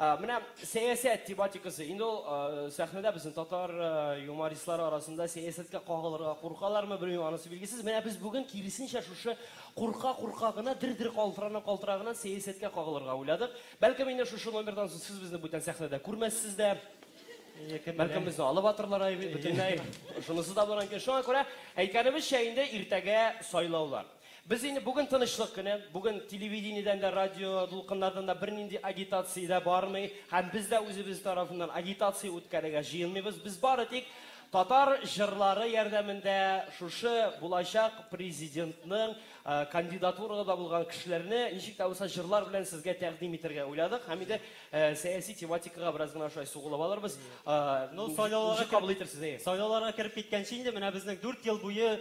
Ә, менә сәясәт тематикасы. Инде ул сәхнәдә безнең татар юмористлары арасында сәясәткә кагылырга куркалармы, белмим, анысы билгесез. Менә без бүген киресенчә шушы курка-курка гына, дер-дер калтырана-калтырана гына сәясәткә кагылырга уйладык. Бәлкем инде шушы номердан соң сез безне бүтән сәхнәдә күрмәссез дә. Бәлкем безне алып атырлар ай бөтенләй. Шунысы да булыр мөмкин. Шуңа күрә әйткәнебезчә инде иртәгә сайлаулар. Без инде бүген тынычлык көне, бүген телевидениедән дә, радио дулкыннардан да бернинди агитация дә бармый һәм без дә үзебез тарафыннан агитация үткәрергә җыенмыйбыз. Без бары тик татар җырлары ярдәмендә шушы булачак президентның кандидатурада булган кешеләрне ничек тә булса җырлар белән сезгә тәкъдим итәргә уйладык һәм инде сәяси тематикага бераз гына шулай сугылып алырбыз. Ну, сайлауларга кабул итәрсез, әйе. Сайлауларга кереп киткәнче инде менә безнең дүрт ел буе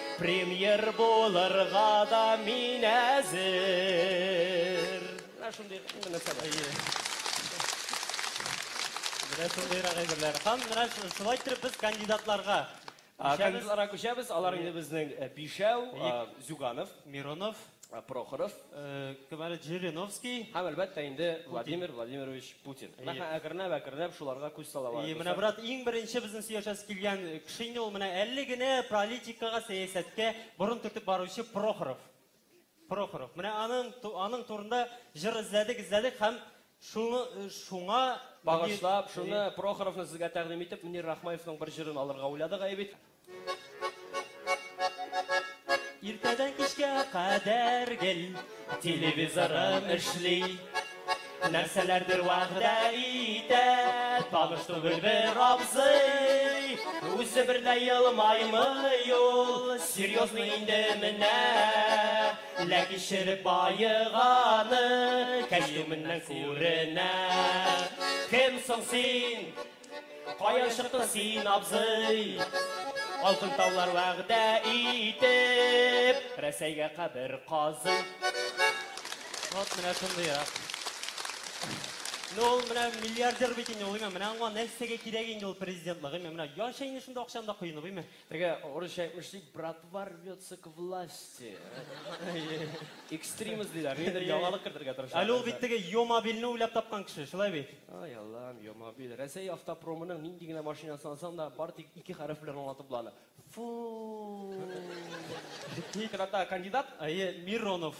Премьер булырга да мин әзер. Менә шундый мөнәсәбәт. Менә шундыйрак әйберләр. Һәм менә шулай итеп без кандидатларга Кандидатларга күчәбез. Алар инде безнең Бишәү, Зюганов, Миронов, Прохоров. Говорит Жириновский. Һәм, әлбәттә инде, Владимир Владимирович Путин. Әйе. Әкренләп, әкренләп шуларга күз сала барабыз. Әйе, менә, брат, иң беренче безнең сөйләшәсе килгән кеше инде ул, менә әле генә политикага, сәясәткә борын төртеп баручы Прохоров. Прохоров. Менә аның, аның турында җыр эзләдек, эзләдек һәм Шуны, шуңа Багышлап, шуны, Прохоровны сезгә тәкъдим итеп, Мөнир Рахмаевның бер җырын алырга уйладык, әйе бит? Иртәдән кичкә кадәр гел Телевизорым эшли Нәрсәләрдер вәгъдә итә Таныш түгел бер абзый Үзе берлә елмаймый ул Серьезный инде менә Үлә кичереп баеганы Кәч төменнән күренә Кем соң син? Каян чыктың син, абзый? Алтын таулар вәгъдә итеп Рәсәйгә кабер казый Вот менә шундый я. Ну, ул менә миллиардер бит инде ул, менә аңа нәрсәгә кирәк инде ул президентлык, менә яшәй инде шунда акчаны да коенып, Теге урысча әйтмеш дип, братва рвется к власти. Экстримист диләр, нидер яңалык кертергә тырыша. Әле ул бит теге Йомобилне уйлап тапкан кеше, шулай бит? Ай, Аллам, Йомобил. Рәсәй автопромының нинди генә машинасын алсаң да, бары тик ике хәреф белән аңлатып була аны. Фу. Тик анда кандидат? Әйе, Миронов.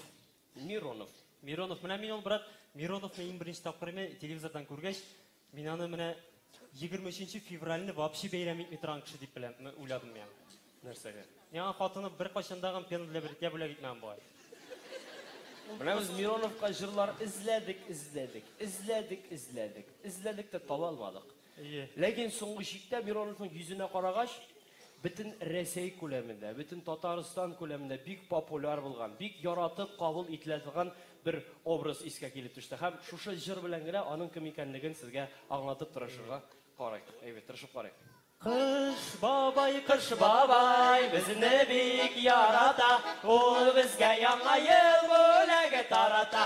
Миронов. Миронов. Менә мин ул брат Мироновны иң беренче тапкыр менә телевизордан күргәч, мин аны менә 23 февральне вообще бәйрәм итми торган кеше дип беләм, уйладым миңа. Нәрсәгә? Миңа хатыны беркайчан да гам пена для бритья бүләк итмәгән бугай. Менә без Мироновка җырлар эзләдек, эзләдек, эзләдек, эзләдек, эзләдек тә таба алмадык. Әйе. Ләкин соңгы чиктә Мироновның йөзенә карагач, бөтен Рәсәй күләмендә, бөтен Татарстан күләмендә бик популяр булган, бик яратып кабул ителә торган бер образ искә килеп төште. Һәм шушы җыр белән генә аның кем икәнлеген сезгә аңлатып тырышырга карыйк. Әйбәт, тырышып карыйк. Кыш бабай, кыш бабай, безне бик ярата, ул безгә Яңа ел бүләге тарата.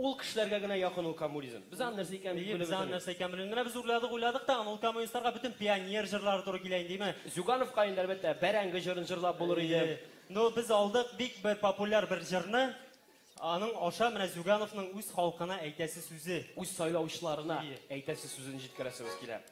Ул кешеләргә генә якын ул коммунизм. Без аны нәрсә икәнен белеп бетәбез. Без аны нәрсә икәнен белеп бетәбез. Менә без уйладык, уйладык та, аны ул коммунистларга бөтен пионер җырлары туры килә инде, име? Зюгановка инде, әлбәттә, бәрәңге җырын җырлап булыр иде. Ну, без алдык бик бер популяр бер җырны. Аның аша менә Зюгановның үз халкына әйтәсе сүзе. Үз сайлаучыларына әйтәсе сүзен җиткерәсебез килә.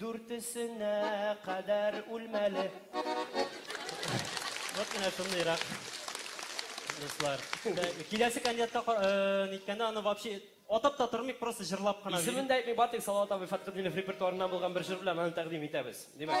Дүртесенә кадәр үлмәле. Вот менә шундыйрак дуслар. Киләсе кандидатка ка- э, ниткәндә аны вообще атап та тормыйк, просто җырлап кына. Исемен дә әйтмик, бары тик Салават абый Фәтхетдинов репертуарыннан булган бер җыр белән аны тәкъдим итәбез. Димәк.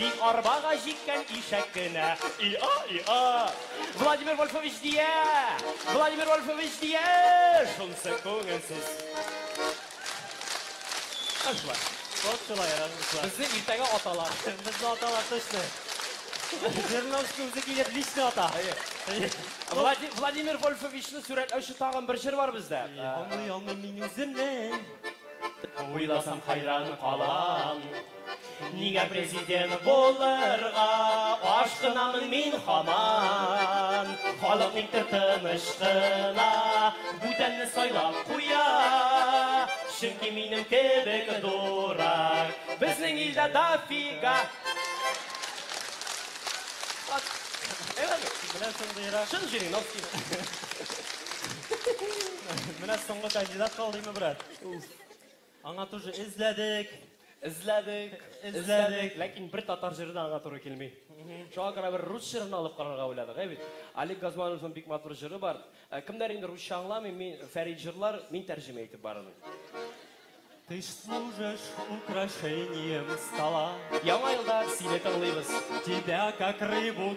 Тик арбага җиккән ишәк кенә. И-а, и-а! Владимир Вольфович дия! Владимир Вольфович дия! Шунсы күңелсез. Ашлар. Вот шулай яратышлар. Безне иртәгә аталар. Безне аталар точно. Жирновский үзе килеп лично ата. Влади- Владимир Вольфовичны сурәтләүче тагын бер җыр бар бездә. Аңлый алмыйм мин үземне. Уйласам, хәйран калам. Нигә президент булырга ашкынамын мин хаман? Халык никтер тыныч кына бүтәнне сайлап куя. Чөнки минем кебек дурак безнең илдә дофига. Менә шундыйрак. Чын Жириновский. Менә соңгы кандидат калдыймы, брат? Аңа тоже эзләдек. Эзләдек, эзләдек, ләкин бер татар җыры да аңа туры килми. Шуңа күрә бер рус җырын алып карарга уйладык, ә бит. Олег Газмановның бик матур җыры бар. Ә, Кемнәр инде русча аңламый, мин Фәрит җырлар, мин тәрҗемә итеп барырмын. Ты ж служишь украшением стола. Яңа елда сине тыңлыйбыз. Тебя как рыбу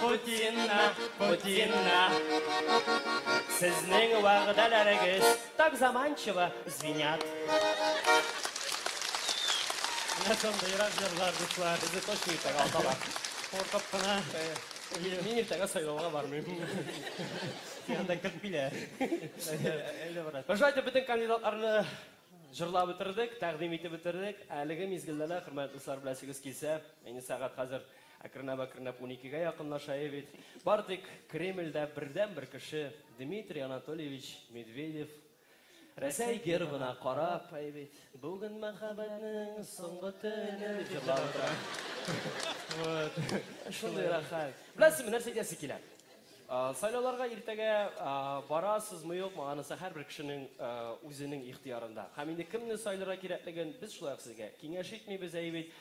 Путинна, Путинна, сезнең вәгъдәләрегез так заманчиво звенят. Менә шундыйрак җырлар, дуслар, безне точно иртәгә аталар. Куркып кына мин иртәгә сайлауга бармыйм. Анда кертмиләр. Әллә барат. Шулай итеп бөтен кандидатларны җырлап бетердек, тәкъдим итеп бетердек. Әлеге мизгелдә лә, хөрмәтле дуслар, беләсегез килсә, әйне сәгать хәзер Әкренләп-әкренләп уникегә якынлашаи бит. Бары тик Кремльдә бердәнбер кеше, Дмитрий Анатольевич Медведев, Рәсәй гербына карап, әи бит, Бүген мәхәббәтнең соңгы төне, дип җырлап утыра. Вот. Шундый рәхәт. Беләсезме, нәрсә әйтәсе килә? Сайлауларга иртәгә барасызмы юкмы, анысы һәрбер кешенең үзенең ихтыярында. Һәм инде кемне сайларга кирәклеген без шулай ук сезгә киңәш итмибез, әйе бит?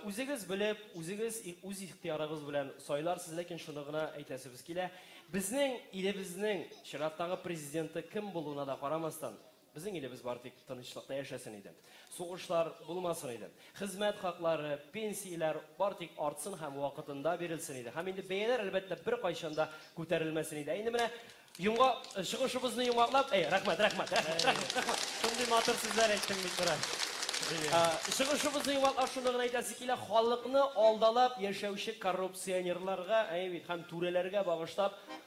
Үзегез белеп, үзегез үз ихтыярыгыз белән сайларсыз, ләкин шуны гына әйтәсебез килә, безнең илебезнең чираттагы президенты кем булуына да карамастан, Безнең илебез бары тик тынычлыкта яшәсен иде. Сугышлар булмасын иде. Хезмәт хаклары, пенсияләр бары тик артсын һәм вакытында бирелсен иде. Һәм инде бәяләр, әлбәттә, беркайчан да күтәрелмәсен иде. Ә инде менә йомга, чыгышыбызны йомгаклап, әй, рәхмәт, рәхмәт, рәхмәт, рәхмәт, рәхмәт. Шундый матур сүзләр әйттең, Мисра. Чыгышыбызны йомгаклап шуны гына әйтәсе килә, халыкны алдалап яшәүче коррупционерларга, әйе бит, һәм түрәләргә багышлап,